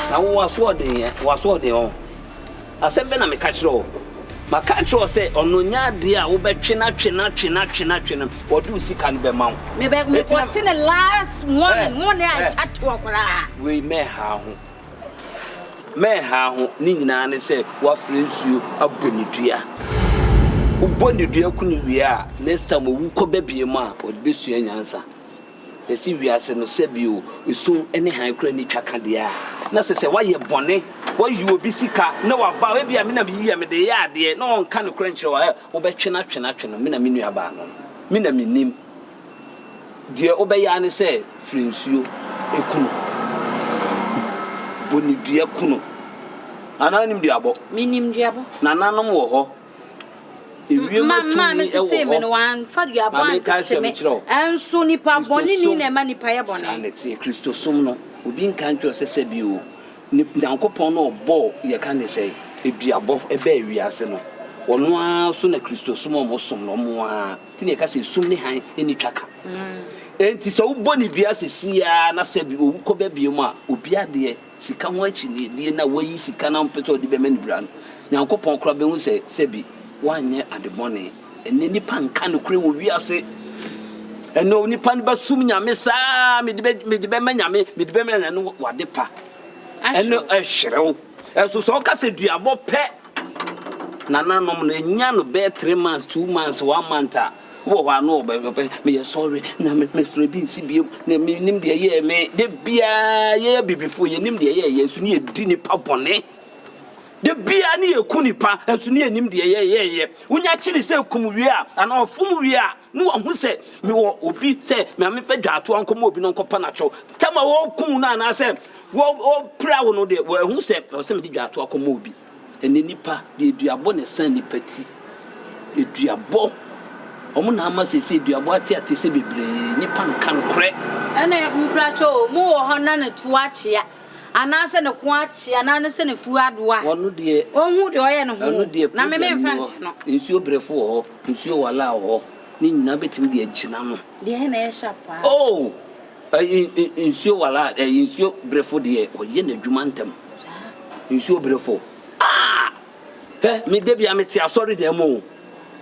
na wo asoɔden yɛ wo asoɔden ɔ asɛm bɛ na meka kyerɛ o maka kyerɛ o sɛ ɔno nya adeɛ a wobɛtwe na twe na twe na twe na twe no wɔde wo sika no bɛma wo mekɔte ne last morning mo ne atwa toɔ koraa wei mɛha ho Mɛnhaa ho, ne nyinaa ne sɛ wafra nsuo abɔ ne dua. Wobɔ ne dua ku no wie a, next time owu kɔ ba biem a, ɔde bɛsua nyansa. Yɛse wiase no sɛbi o, esum ne hann koraa nni twa ka deɛ a, na sɛ sɛ woayɛ bɔne, woayi obi sika na waba a, ebia me na meyi yɛ, mede reyɛ adeɛ, na ɔnka nokorɛ nkyerɛ wo a, wobɛtwe no atwe no atwe no, me na me nuabaa no no, me na menim. Deɛ wobɛyɛ ara ne sɛ firi nsuo ku no. Bɔ ne dua ku no. Nana wonim dua bɔ? Menim dua bɔ. Nananom wɔ hɔ. Ewiem atumi wɔ hɔ. Maame tetee me no, wamfa dua bɔ antete me. Nso nipa bɔne ni na ɛma nipa yɛ bɔne. Saa na ɛteɛ. Kristosom no, obi nka nkyerɛ wo sɛ sɛ bi o, Nyankopɔn na ɔbɔɔ, yɛka ne sɛ, dua bɔ baa wiase no. Ɔno ara so na Kristosom a wɔsom no, wɔn ara. Nti na yɛka sɛ sum ne hann nni twaka. Enti sɛ wobɔ no dua seesei ara na sɛ owu kɔba biom a, obiara deɛ, sika ho akyinnyedie na wayi sika no a ɔmpɛ sɛ ɔde bɛma ne bra no, Nyankopɔn koraa bɛhu sɛ sɛbi wanyɛ ade bɔne. Ɛnnɛ nnipa nka nokorɛ wɔ wiase. Ɛnnɛ onipa no bɛsom Nyame saa, mede bɛ, mede bɛma Nyame, mede bɛma Nyame, ɛno w'adepa. Ɛno ɛhyerew. Ɛnso sɛ ɔka sɛ duabɔ pɛ, Nananom no, nya no bɛyɛ three months, two months, one month a, wowɔ hɔ a na ɔbɛ ɔbɛ meyɛ sɔre, nyame mesrɛ ebi nsi biom, na menim deɛ ɛyɛɛ me. Da biara yɛyɛ abibifoɔ, yɛnim deɛ ɛyɛɛ yɛn, nso ne yɛdi nnipa bɔne. Da biara ne yɛku nnipa, nso ne yɛnim deɛ ɛyɛɛ yɛn. Wonya kyere sɛ kum wie a, anaa ɔfom wie a, Ne wahu sɛ mewɔ obi sɛ Maame fa dwa atoa nkɔma obi na ɔnkɔpa no atwɔ. Tam a wɔkum no anaasɛ wɔpira wo no deɛ, wahu sɛ ɛwɔ sɛ mede dwa atoa kɔma obi. Ɛnnɛ nnipa deɛ duabɔ na ɛsan nnipa ti. Aduabɔ, wɔn na ama seesei duabɔ ateateasɛ bebree. Nnipa nka nokorɛ. Ɛna nkuratwɛ o, mo wɔ hɔ na ne to akyea, anaasɛ ne ko akyea, anaa ne sɛ n'afuo adoa a, ɔnhu deɛ ɔyɛ ne ho o, na me memfa nkyɛ no. Nsuo berefo wɔ hɔ. Nsuo wɔ allow hɔ. Ne nyinaa bɛtumi de agyina no. Deɛ na ɛyɛ sharp paa. Oh! Ɛyi nsuo wɔ allow, ɛyi nsuo brefo deɛ ɔyɛ n'adwuma ntɛm. Saa. Nsuo brefo. Ah! Hɛ, me da bia mete asɔre dan mu o.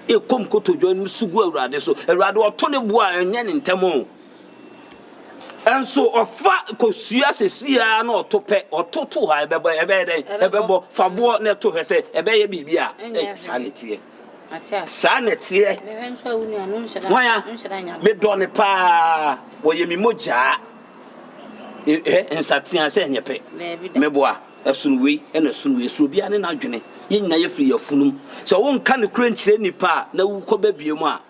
Ɛkɔm kotodwe no su gu Awurade so. Awurade ɔto ne boɔ a ɛnyɛ ne ntɛm o. Ɛnso ɔfa kosua sɛsi a na ɔto pɛ, ɔto to ha ɛbɛbɔ ɛbɛyɛ dɛn? Ɛbɛbɔ. Fa boɔ na ɛto hwɛ sɛ ɛbɛyɛ biribi a. Ɛnyɛ hwee. Saa ne teɛ. Saa na ɛteɛ. Hwan a? Medɔ no paa. Ɔyɛ me mogyaa. Hwɛ, nsateaa sɛ ɛnyɛ pɛ. Meboa. Ɛsono wei, ɛna ɛsono wei. Ɛsono obiara ne n'adwene. Yɛn nyinaa yɛfiri yɛn afunumu. Sɛ wonka nokorɛ nkyerɛ nnipa a, na wokɔba bio mu a,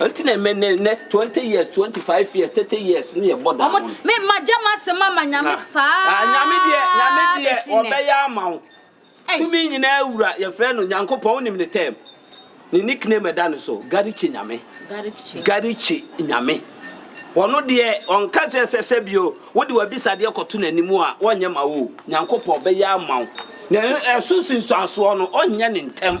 Nti na ɛmɛ ne ne twenty years twenty five years thirty years ne yɛ bɔ da ho. Me ma gya ma se ma ma nyame saa. Ah nyame deɛ nyame deɛ ɔbɛyɛ ama wo. Tumi nyinaa wura yɛfrɛ no nyankopɔn wonim ne term ne nickname ɛda ne so garikye nyame garikye nyame ɔno deɛ ɔnka sɛ sɛ sɛ bio. Wode w'abisadeɛ kɔto N'anim a, Ɔrenyɛ ma wo o. Nyankopɔn bɛyɛ ama wo. Na ɛso nsunsuansoɔ no, Ɔrenyɛ no ntɛm.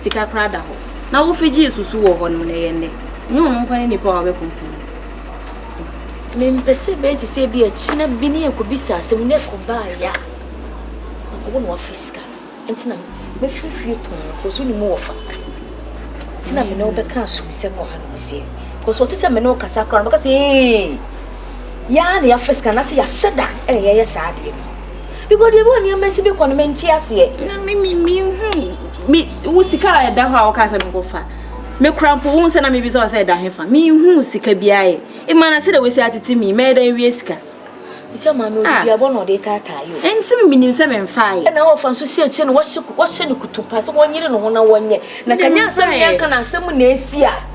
Sika koraa da hɔ na wofi gyee susu wɔ hɔ nom na ɛyɛ nnɛ. Ɛnyɛ ɔno nkoa ne nnipa a wɔabɛkunkum no. Mempɛ sɛ ɛbɛyɛ te sɛ ebi a kyena bi ne yɛn kɔbisa asɛm na ɛkɔ baa yɛ a mankɔbɔ no wafiri sika no. Ɛnti na mɛfiri fie tɔn no kɔso ne mu wɔ fa. Ɛnti na me ne wo bɛka asom sɛ kɔ ha no kɔ sie. Kɔso ɔte sɛ me ne wo kasa koraa no bɛka sɛ ee yɛ a na yɛafiri sika no na sɛ yɛahyɛ da ɛna yɛyɛ saa adeɛ no. because deɛ bi wɔ nneɛma si bi kɔ no mente aseɛ wo sika a ɛda hɔ a woka sɛ menkɔfa mekora mpo wohu sɛ na mebisa wɔ sɛ ɛda he fa menhu sika biaa ɛ ɛma na sɛdɛ wasi atete mi mɛyɛ dɛn wie sika sɛ maame odiduabɔ na ɔde taataa yo ɛnti menim sɛ memfa yɛ ɛna wɔfa nso sɛ sɛ no wɔhyɛ no kutupa sɛ wɔnyere ne ho na wɔnyɛ na kanya asɛm yɛka na asɛm na ɛsi a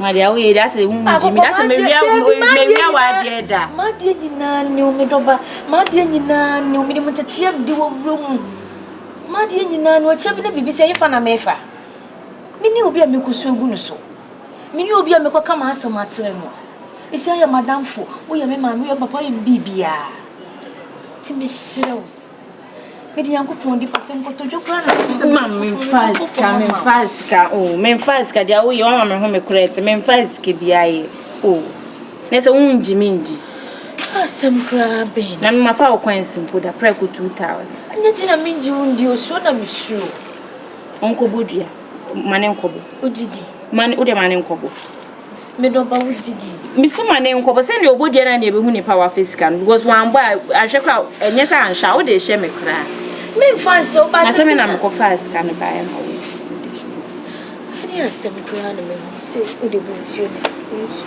Madeɛ woyɛ deɛ asɛ wongyi me dasɛ mewia wadeɛ da madeɛ nyinaa ne wo medɔba madeɛ nyinaa ne wo mede mo nteteɛ mede wɔ wura mu madeɛ nyinaa ne ɔkyɛ me ne biribi sɛ yefa na mefa mene obi a mekɔ so agu no so mene obi a mekɔ ka m'asɛm akyerɛ no ɛsi ayɛ madamfo woyɛ me maame woyɛ papa woyɛ me biribiaa nti meserɛ wo Mede Nyankopɔn di pɛ sɛ nkotodwe koraa na mepɛ sɛ ma memfa sika memfa sika o oh, memfa sika deɛ woyɛ wama me ho me korɛ nti memfa sika biara yɛ o oh. na sɛ wongye me ndi asɛm koraa bɛn na memafa wo kwan si mpo da prɛko 2000 ɛnyɛ gye na mengye wo ndi osuo na mesuo ɔnkɔbɔ dua ma ne nkɔbɔ wodidi ma ne wode ma ne nkɔbɔ Me dɔ ba wo gyidi. Mesi ma ne nkɔbɔ sɛnea ɔbɔ dua na nea ɛbɛhu nipa wafa sika no because wambɔ a ahwɛ kora ɛnyɛ sɛ anhwɛ a wode hyɛ me koraa memfa nhyɛ wo ba na sɛ me na mekɔfaa sika no baeɛ ma wo ɛde asɛm koraa na mehu sɛ wode bu nsuo no nsuo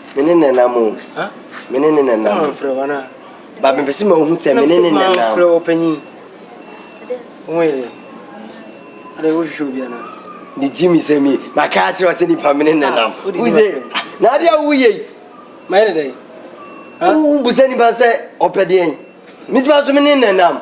Me ne nenam o. Me ne ne nenam. Sɛ mfrɛ wɔn a. Ba mepɛ sɛ ma wohu sɛ me ne ne nenam. Sɛ mfrɛ ɔpanyin. Wo yɛ dɛ. Ada wohwehwɛ obi anaa. Ne gyi mi sɛ mi na kaa akyerɛ sɛ nipa me ne nenam. Ah, wo sɛ na ade a woyɛ yi. Ma yɛ dɛ. Wo bu sɛ nipa sɛ ɔpɛ deɛn. Mituma so me ne nenam.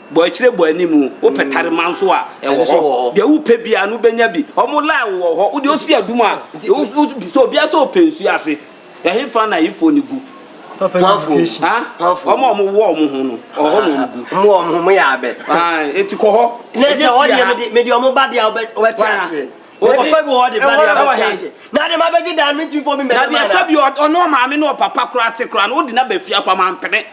Bɔ akyire bɔ anim o, wopɛ tarima nso a, ɛwɔ hɔ. Deɛ wopɛ biara no wobɛnya bi. Wɔn line wo wɔ hɔ, wodeɛ wosi adum a, sɛ obiara sɛ ɔpɛ nsuo ase. Ɛhefa na ayifoɔ no gu? Wɔn a wɔn wɔ wɔn ho no, ɔhɔ na wɔn gu. Wɔn wɔ wɔn ho, wɔn yɛ abɛ. Eti kɔ hɔ. Ne sɛ wɔn deɛ mede wɔn ba deɛ wɔbɛte aseɛ. Wɔkɔfa bi wɔ hɔ de ba deɛ wɔbɛte aseɛ. Na deɛ mabɛgye dan no, mentumi fɔ bi mɛde ma no. Na deɛ sɛbi ɔne ɔmaame ne ɔpapa koraa te koraa no, wode no aba fie akɔ ama mpene.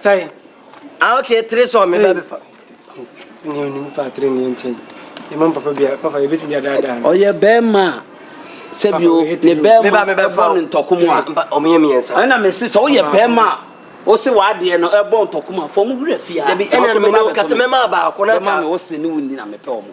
Sɛn? Ah, okay, three sɔɔ me ba bɛfa. Ne onim fa three ne nkyɛn. Yɛma mo papa bia, papa yɛbɛtumi adaadaa no. Ɔyɛ bɛrima a sɛbio ne bɛrima ɛbɔ no ntɔkoma a. Ɔmo yɛ mmiɛnsa. Ɛna mese sɛ woyɛ bɛrima a wose w'adeɛ no ɛbɔ ntɔkoma a fa ɔmo wura fie ha. Dabi, ɛna mene wo kasa, mɛma baako na ka. Bɛma me wose ne wo nni na mepɛ ɔmo.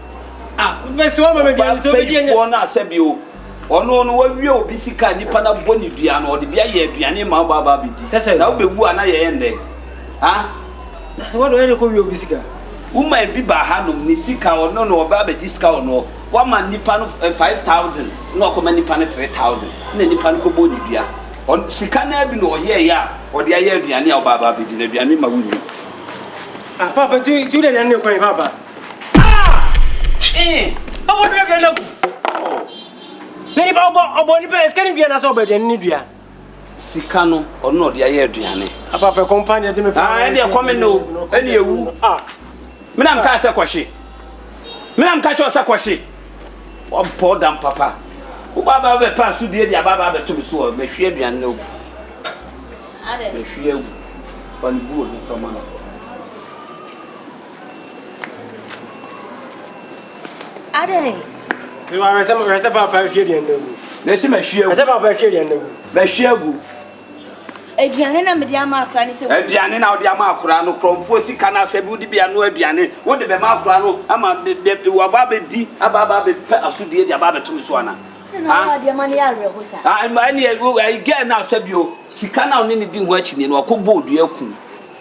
Ɔbapɛyifoɔ no a sɛbio ɔno no wawie obi sika nipa na bɔ ne dua no ɔde bi ayɛ aduane ma ɔba aba abɛdi na wobɛwu a na yɛyɛ ndɛn ha na sɛ wɔde ɔyɛ ne kɔ wie obi sika woma ebi ba ha nom ne sika ɔno no ɔba abɛdi sika ɔno wama nipa no 5000 eh, na ɔkɔma nipa no 3000 na nipa no kɔbɔ ne dua sika no abi na ɔyɛɛyɛ a ɔde ayɛ aduane a ɔba aba abɛdi na aduane ma wonni ah, Papa, tu tu dɛ nane kwan papa Ah! Eh, ọbọ dua dua nam. Oh. Na nipa ọbọ ọbọ nipa esika ni dua na sọ ọbọ aduane ni dua. Sika no ọno na ọde ayɛ aduane. Apa pɛ kɔmpa ni ɛde mi pa. Ah, ɛde ɛkɔ mi no, ɛne ewu. Ah. Mina mi ka sɛ kɔhye. Mina mi ka kyerɛ sɛ kɔhye. Ɔbɔ dam papa. Wo ba ba bɛ pa so dua di aba ba bɛ to mi so ɔ mɛ hwie aduane na ogu. Mɛ hwie agu. Fa ne buo ne fa ma no. Adɛn? Sɛ wɔhwɛ sɛ wɔhwɛ sɛ papa ahwie aduane no agu. Na ɛsɛ mahwie agu. Ɛsɛ papa ahwie aduane no agu. Mahwie agu. Aduane na mede ama akora ne sɛ. Aduane na wode ama akora no korɔmfoɔ sika no asɛ bi wode bi ano aduane wode bɛma akora no ama waba abɛdi aba aba abɛpɛ asodie de aba abɛto me so ana. Ah, ɛneɛ gɛɛ no asɛ bio sika no a wone ne di ho akyinie no wakɔbɔ odua akum.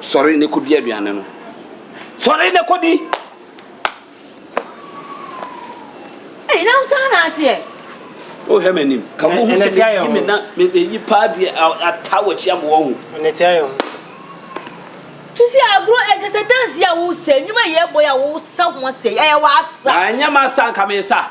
Sɔre na kɔdi aduane no. Sɔre na kɔdi! Ɛyi na wosan na ateɛ. Wohwɛ m'anim. Ka mo ho sɛ meyi me na meyi paa bi ata w'akyi ama wɔn ho. Ɛnɛ tia yɛ ho. Sisi agorɔ ɛsɛ sɛ dansi a wosɛ nnwuma yi ɛbɔ yi a wosa ho asɛ ɛyɛ w'asa. Anyɛ m'asa nka mesa.